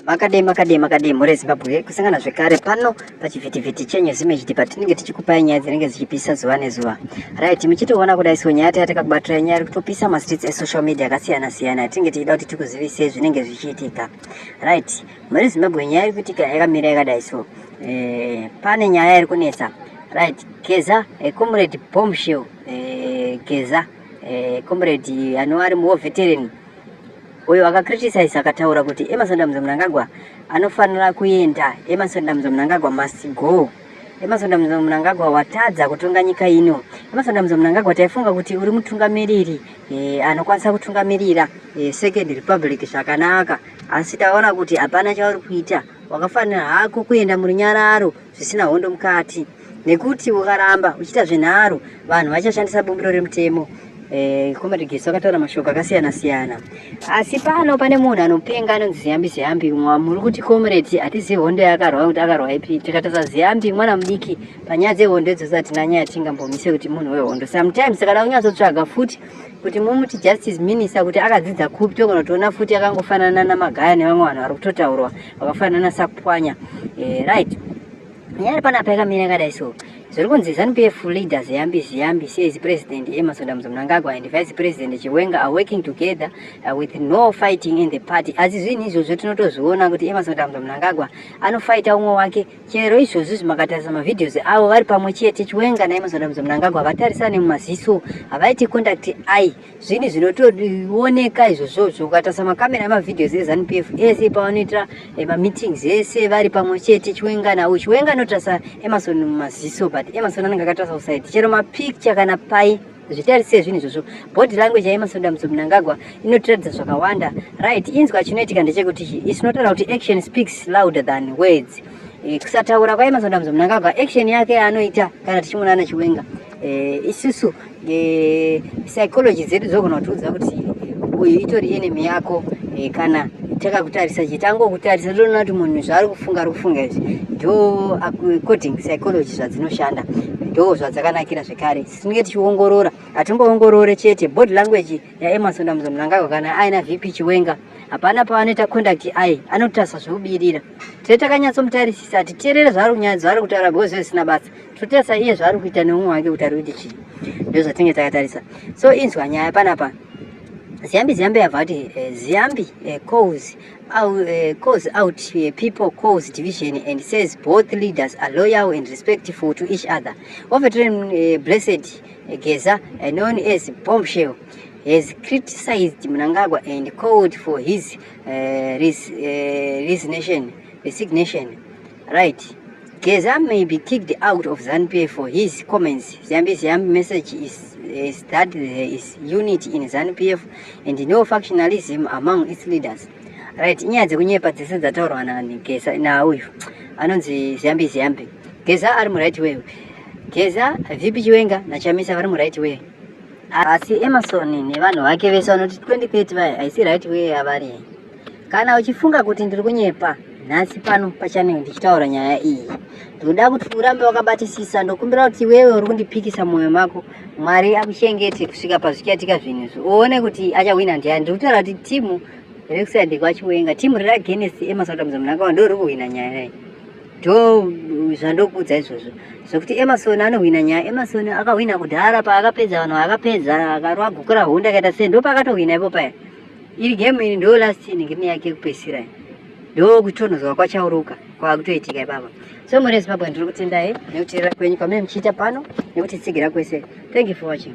Makadei makadei makadei mhuri yeZimbabwe kusangana zvekare pano pachivhitivhiti chenyu zimejidi patinenge tichikupai nyaya dzinenge dzichipisa zuva nezuva right muchitoona kudai so nyaya taya takakubatira nyaya iri kutopisa mastreets esocial media akasiyana siyana yatinenge tichida kuti tikuzivisei zvinenge zvichiitika right mhuri Zimbabwe nyaya iri kuitika yakamira yakadai so eh, pane nyaya iri kunetsa right geza eh, comrade bombshell eh, geza eh, comrade anova ari muoveterini uyo akacriticise akataura kuti emerson damzo munangagwa anofanira kuenda emerson damzo munangagwa must go emerson damzo munangagwa watadza kutonga nyika ino emerson damzo munangagwa taifunga kuti uri mutungamiriri e, anokwanisa kutungamirira e, second republic zvakanaka asi taona kuti hapana chauri kuita wakafanira hako kuenda murunyararo zvisina hondo mukati nekuti ukaramba uchiita zvenharo vanhu vachashandisa bumbiro remutemo eh, comrade gesi vakataura mashoko akasiyana siyana asi pano pane munhu anopenga anonzi ziyambi ziyambi muri kuti comrade hatizivi hondo yakarwa kuti akarwa ipi tikatasa ziyambi mwana mudiki panyaya dzehondo idzodzo hatina nyaya tingambomise kuti munhu wehondo sometimes kana kunyatsotsvaga futi kuti mumuti justice minister kuti akadzidza kupi togona toona futi akangofanana namagaya nevamwe vanhu vari kutotaurwa vakafanana nasakupwanya eh, right nyaya iri panapa yakamira yakadai so zviri kunzi zanu pf leader ziyambi ziyambi says president emerson damzo mnangagwa and vice president chiwenga are working together uh, with no fighting in the party asi zvinhu izvozvo tinotozviona kuti emerson damzo mnangagwa anofaita umwe wake chero izvozvo zvimakatarisa mavideos avo vari pamwe chete chiwenga naemerson damzo mnangagwa havatarisane mumaziso havaiti conduct i zvinhu zvinotooneka izvozvozvo ukatarisa makamera emavideos ezanup f ese pavanoitira eh, mameetings ese vari pamwe chete chiwenga nawo chiwenga anotarisa emarson mumaziso but emarson anenge akatarisa kusaidi chero mapicture kana pai zvitarise zvinhu izvozvo body language yaemarson damutso munangagwa inotiratidza zvakawanda right inzwa chinoitika ndechekuti isinotaura kuti action speaks louder than words eh, kusataura kwaemarson damutso munangagwa action yake yaanoita kana tichimonana chiwenga eh, isusu e, psychology dzedu dzogona kutiudza kuti uyu itori enemy yako e, kana takakutarisa chete angokutarisa ndoona kuti munhu zvaari kufunga ari kufunga izvi ndo according psychology zvadzinoshanda ndo zvadzakanakira zvekare tinenge tichiongorora hatingoongorore chete body language yaemarson dambudzo munangagwa kana aina vp chiwenga hapana pavanoita conduct ai anotarisa zvekubirira tee takanyatsomutarisi sati teerere zvaari kunyaya zvaari kutaura bhozi zvisina basa Kutesa iye zvaari kuita neumwe wake kuti ari kuti chii ndozvatinge takatarisa so inzwa nyaya panapa ziyambi ziyambi yabva kuti eh, ziyambi eh, calls out, eh, calls out people calls division and says both leaders are loyal and respectful to each other overtrain blessed geza known as bombshell has criticized mnangagwa and called for his resignation Right. Geza may be kicked out of ZANPF for his comments. Zambi's message is, is that there is unity in ZANPF and no factionalism among its leaders. Right, inyaya dzekunyepa dzese dzataurwa naGeza nauyu anonzi Zambi Zambi. Geza ari muright way. Geza, VP Chiwenga naChamisa vari muright way. Asi Emerson nevanhu vake vese vanoti 2030 vaya haisi right way yavari. Kana uchifunga kuti ndiri kunyepa, nhasi pano pachanel ndichitaura nyaya iyi ndoda kuti urambe wakabatisisa ndokumbira kuti iwewe uri kundipikisa mwoyo mako mwari akuchengete kusvika pazvichatika zvinhu izvi uone kuti achahwina ndiani ndiri kutaura kuti timu rekusayandiko achiwenga timu riri agenest emasauta muzamnakawa ndo riri kuhwina nyaya iyi ndo zvandokuudza izvozvo zvekuti emarson anohwina nyaya emarson akahwina kudhara paakapedza vanhu vaakapedza akarwa guku rahunda akaita sei ndo paakatohwina ipo paya iri game iri ndo last in game yake yekupesira ndo kutonhozwa kwachauruka kwakutoitika ipapa so muri zimbabwe ndiri kutendai nekuteerera kwenyu kwamene muchiita pano nekuti tsigira kwese thank you for watching